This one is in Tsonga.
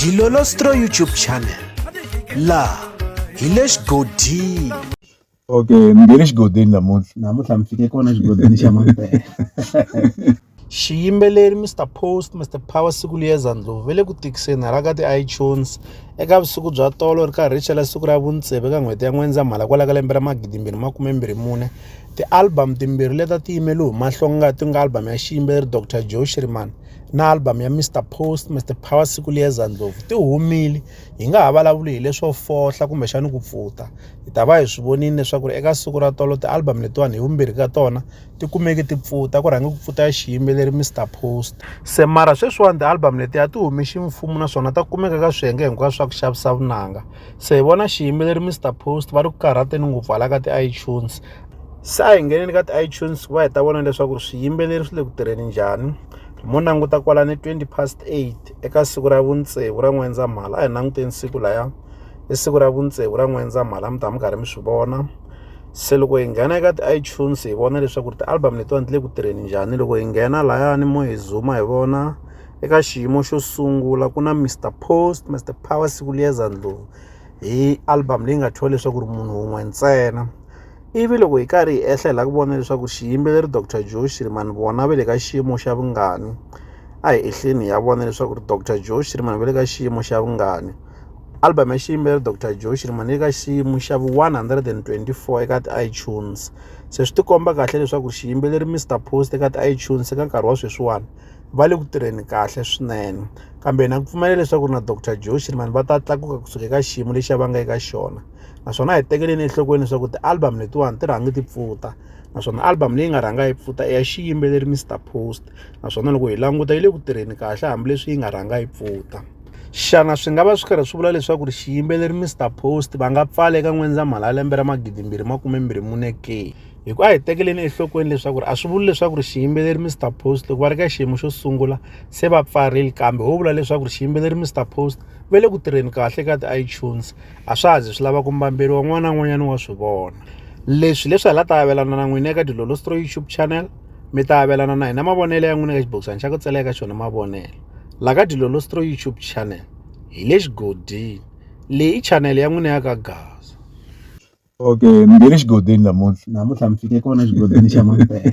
Dilolostro YouTube channel la hi le xigodini okay mi nge le xigodini namuntlha namuntlha mi fike kona xigodini xa mampela xiyimbeleri mr post mr power siku liyeza ndlovu ve le ku tikiseni hala ka ti-itunes eka vusiku bya tolo ri karhi ri chela siku ra vuntseve ka n'hweti ya n'wendzamhala kwala ka lembe ra magidimbirhi makumembirhi mune ti-album timbirhi leta ti yimele humahlonga ti nga album ya xiyimbeleri dr joe shriman na album ya Mr Post, Mr Power siku liyeza ndlovu ti humile hi nga ha vulavuli hi leswo fohla kumbexana ku pfuta hi ta va hi swi vonile leswaku ri eka siku ra tolo ti-album letiwani hi vumbirhi ka tona ti kumeke ti pfuta ku rhange ku pfuta ya xiyimbeleri Mr Post se mara sweswiwani ti-album letiya ti hume ximfumo naswona ta kumeka ka swiyenge hinkwaswo swa ku xavisa vunanga se hi vona xiyimbeleri Mister Post va ri ku karhateni ngopfu hala ka ti-iTunes se a hi ngheneni ka ti-iTunes ku va hi ta vona leswaku ri swiyimbeleri swi le ku tirheni njhani mo languta kwalani twenty past eight eka siku ra vutsevu ra n'wendzamhala a hi languteni siku laya i siku ra vutsevu ra n'wendzamhala mi ta mi karhi mi swi vona se loko hi nghena eka ti-iTunes hi vona leswaku ri ti-album letiwani ti le ku tirheni njhani loko hi nghena layani mo hi zuma hi vona eka xiyimo xo sungula ku na mr post mr power siku liyeza ndlovu hi album leyi nga thyiwa leswaku ri munhu wun'we ntsena ivi loko hi karhi hi ehla hi lava ku vona leswaku xiyimbeleri dr joe shirimani vona va le ka xiyimo xa vungani a hi ehleni ya vona leswaku ri dr joe shirimani va le ka xiyimo xa vungani album ya xiyimbeleri dr joe shirimani le ka xiyimo xa vu-124 eka ti-itunes se swi tikomba kahle leswaku xiyimbeleri mr post eka ti-itunes eka nkarhi wa sweswiwani va le ku tirheni kahle swinene kambe na ku pfumela leswaku ri na doctor joe shirman va ta tlakuka kusuka eka xiyimo lexi a va nga eka xona naswona hi tekeleni enhlokweni leswaku ti-album letiwani ti rhangi ti pfuta naswona album leyi nga rhanga yi pfuta i ya xiyimbeleri mr post naswona loko hi languta yi le ku tirheni kahle hambileswi yi nga rhanga yi pfuta xana swi nga va swi karhi swi vula leswaku ri xiyimbeleri mr post va nga pfala eka n'wendzamhala ya lembe ra magidimbirhi makume mbirhi mune ke hi ku a hi tekeleni enhlokweni leswaku ri a swi vuli leswaku ri xiyimbeleri mr post loko va ri ka xiyimo xo sungula se va pfarile kambe ho vula leswaku ri xiyimbeleri mr post va le ku tirheni kahle ka ti-itunes a swa ha zi swi lava ku mbamberiwa n'wana na n'wanyana wa swi vona leswi leswi hala ta avelana na n'wina eka dilolostro youtube channel mi ta avelana na hina mavonelo ya n'wina ka xibokisana xa ku tsela eka xona mavonelo la ka dilolostro youtube channel hi le xigodini leyi i chanele ya n'wina ya ka gaza okay ni nge ni xigodini namuntlha namuntlha ni fike kona xigodini xa mampela.